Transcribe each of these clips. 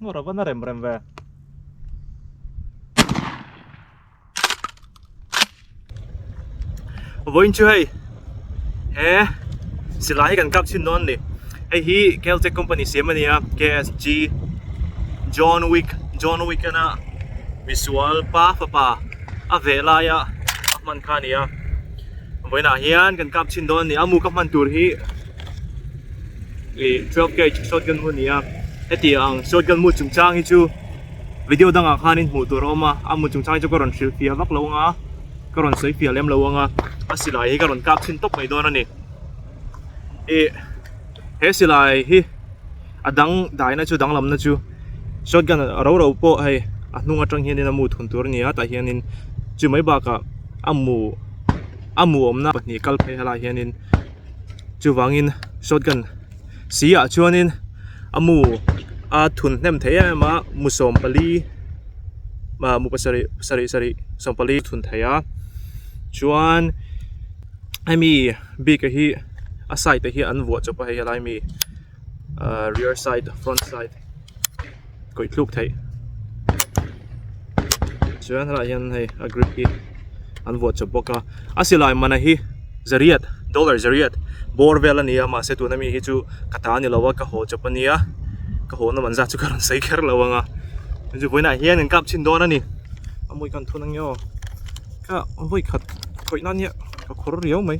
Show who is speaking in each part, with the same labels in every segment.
Speaker 1: Ngora vana rem rem ve. vawiin chu hei he silai hi kan kap chhin dawn a ni hei hi caltex company siam a nia ksg john wick john wick ina misual pa fapa a veh laia a hman kha a ni a vawiinah hian kan kap chhin dawn a ni a amu ka hman tur hi ih twelve gauge shotgun hmun a ni a hetiang shotgun hmu chungchang hi chu-- Video dangah khanin hmuh tur a awm a, a hmun chung chang hi chu ka rawn hrilh fiah vak lo anga ka rawn sawi fiah lem lo anga a silai hi ka rawn kap chhin tawp mai dawn a ni. Ih he silai hi a dang daihna chu dang lamna chu shotgun ro ro pawh hei a hnung atang hianin a mu thun tur a ni a tah hianin chu mai bakah a mu a mu awmna pahnih kal phei hla ah hianin chuvangin shotgun -- Sihah chuanin a mu a thun hnem thei em em a mu sawm pali ah mu pasarih sarih sarih sawm pali thun thei a chuan hemi bik a hi a side ah hian an vuah chawp a hei a lai mi ah rear side front side -- kawih thluk theih chuan helaiah hian hei a grip hi an vuah chawp bawk a a silai mana hi zariat dollar zariat bawr vel a ni a mahse tuna mi hi chu ka ta a ni lo a ka haw chawp a nia ka haw na man zat chu ka rawn sawi kher lo ang a chu vawiinah hian an kap chhin dawn a ni a mawika an thun ang e aw ka vawi khat khawih nan hian ka khawr riau mai.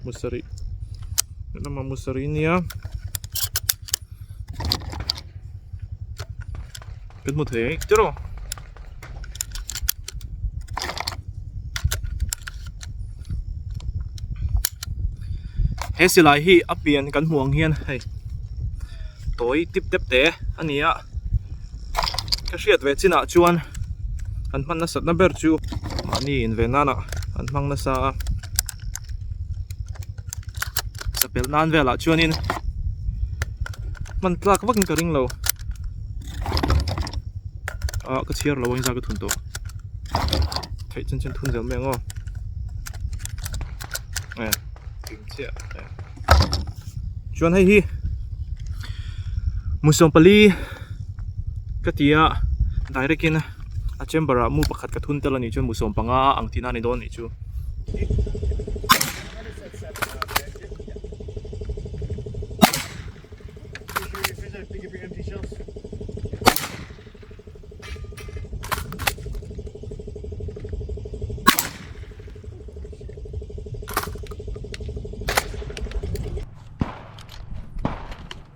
Speaker 1: musarih lama musarih nia kan hmu thei ang tiraw he silai hi a pian kan hmuh ang hian hei tawi tip tep te a ni a ka hriat ve chinah chuan an hman nasat na ber chu mahni inve nanah an hmang nasa a. Sapel nan velah chuanin hman tlak vakin ka ring lo ah ka chhiar lo engzah ka thun tawh theih chin chin thun zel mai ang aw eh tum chiah eh chuan hei hi musuam pali ka tia direct in a chamber ah mu pakhat ka thun tel a nih chuan mu sawm panga a ang tihna a ni dawn a nih chu.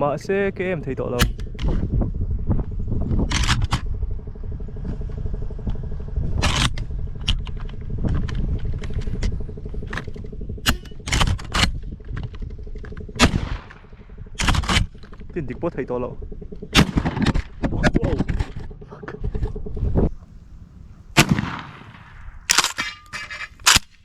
Speaker 1: mahse ka em thei tawh lo tin dik pawh thei tawh lo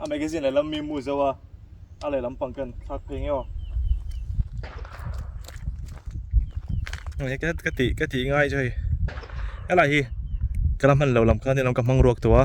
Speaker 1: a magazine le lam mi mu zo a a le lam pang kan thak phei ngeo nge ka ka ti ka ti ngai chu hei helai hi ka lam han lo lam khan ni lo ka hmang ruak tawh a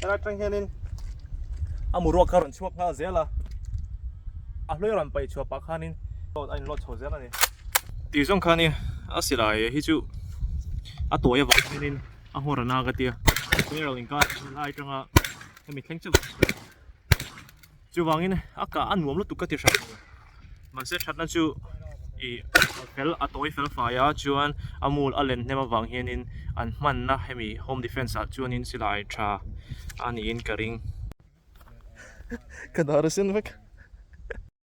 Speaker 1: Tara tang hianin a mu ruak kha ran chhuak nghal zel a a hlui ran pai chhuah pah khanin a in lot chho zel a ni tih zawng khan i a silai hi chu a tuai avang hianin a hmawr ana ka tia tui ro inkar lai tanga hemi thleng chauh Chuvangin a kah a nuam lutuk ka ti hran lo. Mahse thatna chu ih fel a tawi fel fai a, chuan a mul a len hnem avang hianin an hmanna hemi home defence ah chuan in silai tha a niin ka ring. Ka dahrasen vek.